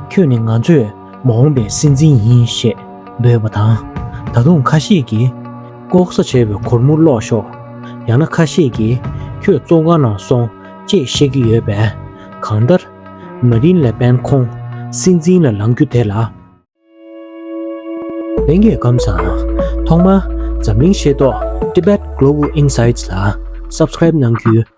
ཁྱོད་ནི་ང་ཚོས་མ་འོངས་པའི་སྲིད་འཛིན་ཡིན་ཞེས་འབོད་པ་དང། ད་དུང་ཁ་ཤས་ཀྱིས། ལྐོག་ཟ་བྱས་པའི་གོར་མོ་བསློགས་ཤོག། ཡང་ན་ཁ་ཤས་ཀྱིས། ཁྱོད་གཙོ་འགའ་ནང་སོང་ཅེས་བཤད་ཀྱི་ཡོད་པས། གང་ལྟར། མ་རིན་ལེ་པེན་ཁོང་སྲིད་འཛིན་ལ་ལང་རྒྱུ་དེ་ལ། ལྷན་རྒྱས་སྐམ་ས། ཐོག་མར་འཛམ་གླིང་ཤེས་རྟོགས Tibet Global Insights ལ Subscribe གནང་རྒྱུའི་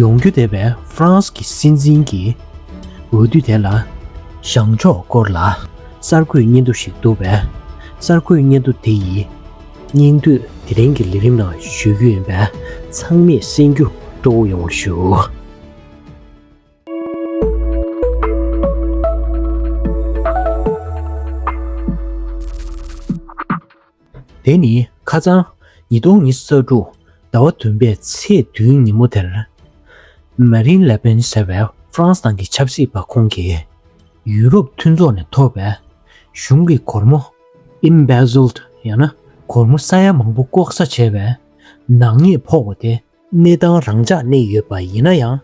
ཡོང་རྒྱུ་བསྡད་པའི་ཧྥ་རན་སི་གི་སྲིད་འཛིན་གྱི་འོས་བསྡུ་དེ་ལ། བྱང་ཕྱོགས་སྐོར་ལ་གསར་འགོད་སྙན་ཐོ་ཞིག་འདུག་པས། གསར་འགོད་སྙན་ཐོ་དེ་ཡི་སྙིང་དོད་དེ་རིང་གི་ལས་རིམ་ནང་བཤུས་རྒྱུ་ཡིན་པས་ཚང་མས་གསན་རྒྱུ་སྤྲོ་བོ་ཡོང་བར་ཞུ། དེ་ནི་ཁ་ཚང། ཉིས་སྟོང་ཉི་ས་དྲུག། ཟླ་བ་བདུན་པའི་ཚེས་བདུན་ཉིན་མོ་དེར། Marine Le Pen ཟེར་བའི་ཧྥ་རན་སི་ནང་གི་ཆབ་སྲིད་པ་ཁོང་གིས། ཡུ་རོབ་མཐུན་ཚོགས་ནས་ཐོབ་པའི་གཞུང་གི་སྒོར་མོ། Embezzled། ཡང་ན་སྒོར་མོ་ས་ཡ་མང་པོ་ལྐོག་ཟ་བྱས་པའི་ནག་ཉེས་ཕོག་པ་དེ། གནས་སྟངས་རང་འཇགས་གནས་ཡོད་པ་ཡིན་ན་ཡང།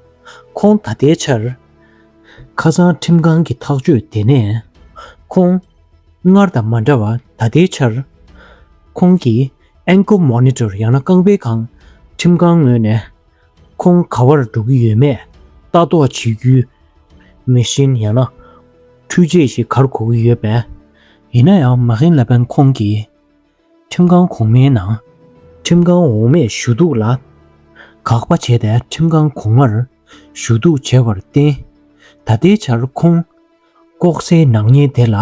ཁོང་ད་ལྟའི་ཆར། ཁ་སང་ཁྲིམས་ཁང་གི་ཐག་གཅོད་དེ་ནས། ཁོང། སྔར་དང་མ་འདྲ་བར་ད་ལྟའི་ཆར། ཁོང་གིས Ankle Monitor ཡང་ན་རྐང་པའི་ཁང། ཁྲིམས་ཁང་ངོས་ནས། ཁོང་ག་བར་འགྲོ་གི་ཡོད་མེད་ལྟ་རྟོག་བྱེད་རྒྱུའི། Machine ཡང་ན། འཕྲུལ་ཆས་ཤིག་གར་གོ་གི་ཡོད་པས། ཡིན་ན་ཡང་མ་ཧིན་ལ་པན་ཁོང་གིས། ཁྲིམས་ཁང་གོང་མའི་ནང། ཁྲིམས་ཁང་འོག་མས་ཞུ་གཏུག་ལ་དགག་པ་བྱས་ཏེ་ཁྲིམས་ཁང་གོང་མར་ཞུ་གཏུག་བྱས་པར་བརྟེན། ད་ལྟའི་ཆར་ཁོངས་ལྐོག་ཟའི་ནག་ཉེས་དེ་ལ་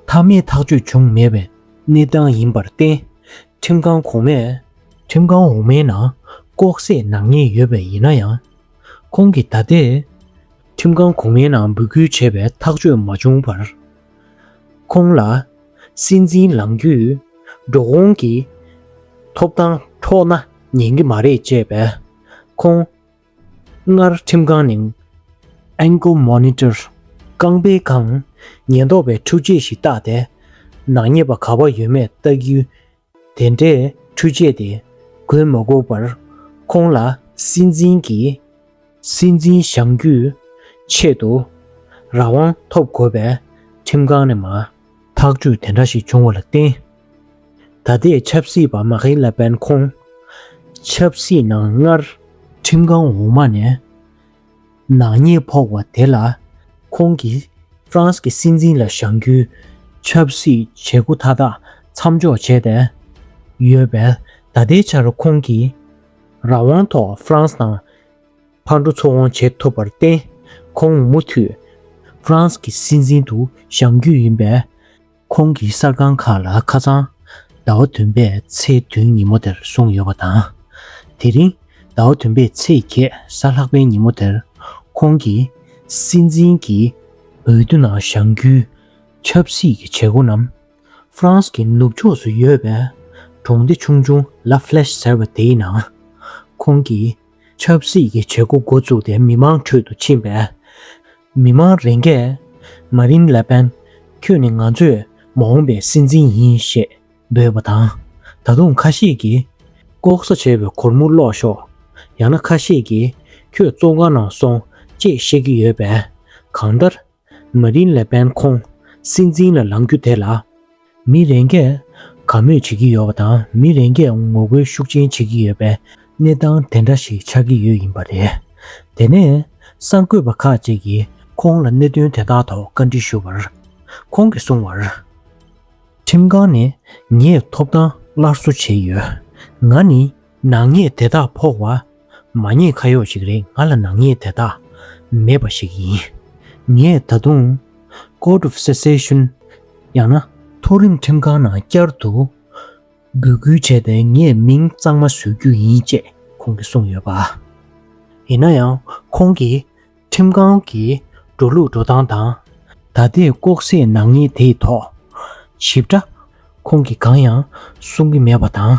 མཐའ་མའི་ཐག་གཅོད་བྱུང་མེད་པའི་གནས་སྟངས་ཡིན་པར་བརྟེན། ཁྲིམས་ཁང་གོང་མས། ཁྲིམས་ཁང་འོག་མའི་ནང་ལྐོག་ཟས་ནག་ཉེས་ཡོད་པས་ཡིན་ན་ཡང། ཁོང་གིས་ད་ལྟའི་ཁྲིམས་ཁང་གོང་མའི་ནང་འབོད་སྐུལ་བྱས་པའི་ཐག་གཅོད་མ་བྱུང་བར། ཁོང་ལ། སྲིད་འཛིན་ལང་རྒྱུས། འགྲོ་འོང་གི། ཐོབ་ཐང་འཕྲོག་ན་ཉན་གི་མ་རེད་ཅེས་པས། ཁོང། སྔར་ཁྲིམས་ཁང་ནས། Ankle Monitor། རྐང་པའི་ཁང། ཉེན་རྟོག་པའི་ཁྲུས་ཆས་ཤིག་བཏགས་ཏེ། ནག་ཉེས་པ་ག་བ་ཡོད་མེད་བལྟ་རྒྱུའི་དེ་འདྲའི་ཁྲུས་བྱས་ཏེ་གོས་མ་བགོ་བར་ཁོང་ལ་སྲིད་འཛིན་གྱི། སྲིད་འཛིན་བཞེངས་རྒྱུའི་ཆེད་དུ་རང་དབང་ཐོབ་དགོས་པའི་ཁྲིམས་ཁང་ནས་མ། ཐག་གཅོད་དེ་འདྲ་ཞིག་བྱུང་བ་ལ་བརྟེན། ད་ལྟའི་ཆབ་སྲིད་པ་མ་ཁེ་ལ་པན་ཁོང་ཆབ་སྲིད་ནང་སྔར། ཁྲིམས་ཁང་འོག་མ་ནས་ནག་ཉེས་ཕོག་བ་དེ་ལ་ཁོང་གིས་ཧྥ་རན་སི་གི་སྲིད་འཛིན་ལ་བཞག་རྒྱུའི་ཆབ་སྲིད་བྱེད་སྒོ་མཐའ་དག་མཚམས་འཇོག་བྱས་ཏེ་ཡོད་པས་ད་ལྟའི་ཆར་ཁོང་གིས་རང་དབང་ཐོག་ཧྥ་རན་སི་དང་ཕར་འགྲོ་ཚུར་འོང་བྱེད་ཐུབ་པར་བརྟེན་ཁོང་མུ་མཐུད་ཧྥ་རན་སི་གི་སྲིད་འཛིན་དུ་བཞག་རྒྱུ་ཡིན་པས་ཁོང་གིས་གསར་ཁང་ཁག་ལ་ཁ་ཚང། ཟླ་བ་བདུན་པའི་ཚེས་བདུན་ཉིན་མོ་དེར་གསུངས་ཡོད་པ་དང། དེ་རིང་ཟླ་བ་བདུན་པའི་ཚེས་བརྒྱད་གཟའ་ལྷག་པའི་ཉིན་མོ་དེར་ཁོང་གིས་སྲིད་འཛིན་གྱི་འོས་བསྡུ་ནང་བཞེངས་རྒྱུའི་ཆབ་སྲིད་ཀྱི་བྱེད་སྒོ་རྣམས་ཧྥ་རན་སི་གི་ནུབ་ཕྱོགས་སུ་ཡོད་པའི་གྲོང་སྡེ་ཆུང་ཆུང་ལ་ཕྷལེཤ་ཟེར་བ་དེའི་ནང་ཁོང་གིས་ཆབ་སྲིད་ཀྱི་བྱེད་སྒོ་འགོ་བཙུགས་ཏེ་མི་མང་ཁྲོད་དུ་ཕྱིན་པས། མི་མང་རེ་འགས། མཱ་རིན་ལེ་པན། ཁྱོད་ནི་ང་ཚོས་མ་འོངས་པའི་སྲིད་འཛིན་ཡིན་ཞེས་འབོད་པ་དང། ད་དུང་ཁ་ཤས་ཀྱིས། ལྐོག་ཟ་བྱེད་པའི་གོར་མོ་བསློག་ཤོག། ཡང་ན་ཁ་ཤས་ཀྱིས། ཁྱོད་བཙོང་ཁང་ནང་སོང་ཅེས་བཤད་ཀྱི་ཡོད་པས། གང་ལྟར། མ་རིན་ལེ་པན་ཁོང་སྲིད་འཛིན་ལ་ལང་རྒྱུ་དེ་ལ། མི་རེ་འགས་དགའ་མོས་བྱེད་ཀྱི་ཡོད་པ་དང་མི་རེ་འགས་ངོ་རྒོལ་ཤུགས་ཆེན་བྱེད་ཀྱི་ཡོད་པའི་གནས་སྟངས་དེ་འདྲ་ཞིག་ཆགས་ཀྱི་ཡོད་ཡིན་པ་རེད། དེ་ནས་གསར་འགོད་པ་ཁག་ཅིག་གིས་ཁོང་ལ་གནད་དོན་དེ་དག་ཐོག་བཀའ་འདྲི་ཞུ་བར། ཁོང་གིས་གསུངས་བར། ཁྲིམས་ཁང་ནས་ངས་ཐོབ་ཐང་སླར་གསོ་བྱས་ཡོད། ང་ནི་ནག་ཉེས་དེ་དག་ཕོག་བ། མ་ཉེས་ཁ་གཡོག་ཞིག་རེད་ང་ལ་ནག་ཉེས་དེ་དག་མེད་པ་ཞིག་ཡིན། ངས་ད་དུང། Court of Secession། ཡང་ན། མཐོ་རིམ་ཁྲིམས་ཁང་ནང་བསྐྱར་དུ། འབོད་སྐུལ་བྱས་ཏེ་ངས་མིང་གཙང་མ་བཟོས་རྒྱུ་ཡིན་ཅེས་ཁོང་གིས་གསུངས་ཡོད་པ། ཡིན་ན་ཡང་ཁོང་གིས། ཁྲིམས་ཁང་གིས་འགྲོ་ལུགས་འགྲོ་སྟངས་དང། ད་ལྟའི་ལྐོག་ཟས་ནག་ཉེས་དེའི་ཐོག། ཞིབ་ཕྲ། ཁོང་གིས་གང་ཡང་གསུང་གི་མེད་པ་དང།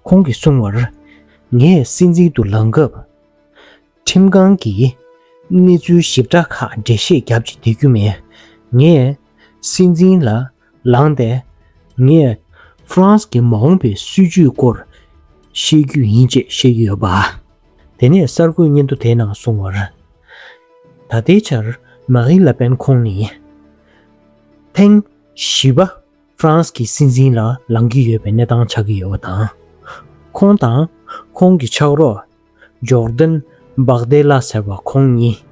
ཁོང་གིས་གསུང་བར། ངས་སྲིད་འཛིན་དུ་ལངས་སྐབས། ཁྲིམས་ཁང་གིས་གནས་ཚུལ་ཞིབ་ཕྲ་ཁག་འགྲེལ་བཤད་རྒྱབ་ཅིག་འདེད་རྒྱུ་མེད། ངས་སྲིད་འཛིན་ལ་ལངས་ཏེ། ངས་ཧྥ་རན་སི་གི་མ་འོངས་པའི་སྲིད་བྱུས་སྐོར་ཤེས་རྒྱུ་ཡིན་ཅེས་བཤད་ཀྱི་ཡོད་པ། དེ་ནས་གསར་འགོད་སྙན་ཐོ་དེའི་ནང་གསུངས་བར། ད་ལྟའི་ཆར་མཱ་རིན་ལཱ་པེན་ཁོང་ནི། ཐེངས་བཞི་པ་ཧྥ་རན་སི་གི་སྲིད་འཛིན་ལ་ལངས་ཀྱི་ཡོད་པའི་གནས་སྟངས་ཆགས་ཀྱི་ཡོད་པ་དང། ཁོང་དང་ཁོང་གི་ཕྱག་རོགས Jordan Bardella ཟེར་བ་ཁོང་གཉིས་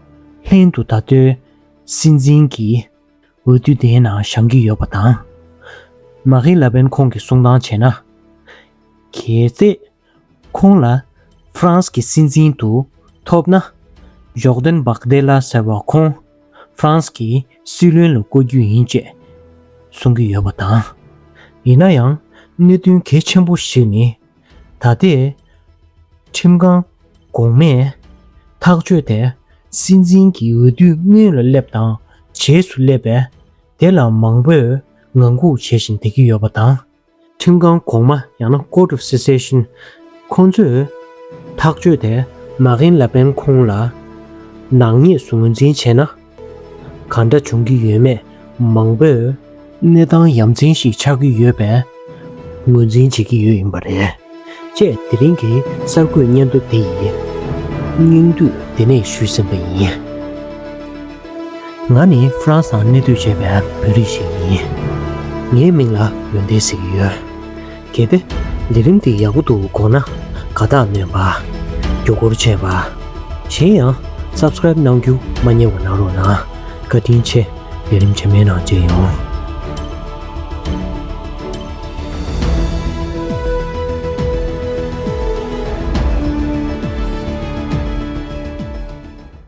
ལྷན་དུ་ད་ལྟའི་སྲིད་འཛིན་གྱི་འོས་བསྡུ་དེའི་ནང་བཞག་གི་ཡོད་པ་དང། མཱ་རིན་ལ་པེན་ཁོང་གིས་གསུང་སྟངས་བྱས་ན། གལ་སྲིད་ཁོང་ལ་ཧྥ་རན་སི་གི་སྲིད་འཛིན་དུ་ཐོབ་ན། ཇོག་དན་བྷག་དེ་ལ་ཟེར་བ་ཁོང་ཧྥ་རན་སི་གི་སྲིད་བློན་ལ་བསྐོ་རྒྱུ་ཡིན་ཅེས་གསུང་གི་ཡོད་པ་དང། ཡིན་ན་ཡང་གནད་དོན་གལ་ཆེན་པོ་ཞིག་ནི་ད་ལྟའི་ཁྲིམས་ཁང་གོང་མས་ཐག་གཅོད་དེ་སྲིད་འཛིན་གྱི་འོས་བསྡུའི་སྔོན་ལ་སླེབས་དང་རྗེས་སུ་སླེབས་པས་དེ་ལ་མང་པོས་ངང་སྒུག་བྱེད་བཞིན་བསྡད་ཀྱི་ཡོད་པ་དང། ཁྲིམས་ཁང་གོང་མ་ཡང་ན Court of Cassation ཁོང་ཚོས་ཐག་གཅོད་དེ་མ་གྷིན་ལ་པེན་ཁོང་ལ་ནག་ཉེས་སུ་ངོས་འཛིན་བྱས་ན། ག་འདྲ་འབྱུང་གི་ཡོད་མེད་མང་པོས། གནས་སྟངས་ཡ་མཚན་ཞིག་ཆགས་ཀྱི་ཡོད་པས། ངོས་འཛིན་བྱེད་ཀྱི་ཡོད་ཡིན་པ་རེད། ཅེས་དེ་རིང་གི་གསར་འགོད་སྙན་ཐོ་འདི་ཡི་སྙིང་བསྡུས་འདི་ནས་ཞུས་ཟིན་པ་ཡིན། ང་ནི་ཧྥ་རན་སང་གནས་སྡོད་བྱས་པའི་བོད་རིགས་ཤིག་ཡིན། ངའི་མིང་ལ་ཡོན་ཏན་ཟེར་གྱི་ཡོད། གལ་ཏེ། འདི་རིམ་འདི་ཡག་པོ་འདུག་དགོངས་ན་དགའ་རྟགས་བསྣོན་པ། རྒྱུ་སྐོར་བྱས་པ། གཞན་ཡང། Subscribe གནང་རྒྱུ་མ་རྙེད་བ་གནང་རོགས་གནང། བཀའ་དྲིན་ཆེ། ལས་རིམ་ཇེ་དམན་ནང་བརྗེ་ཡོང།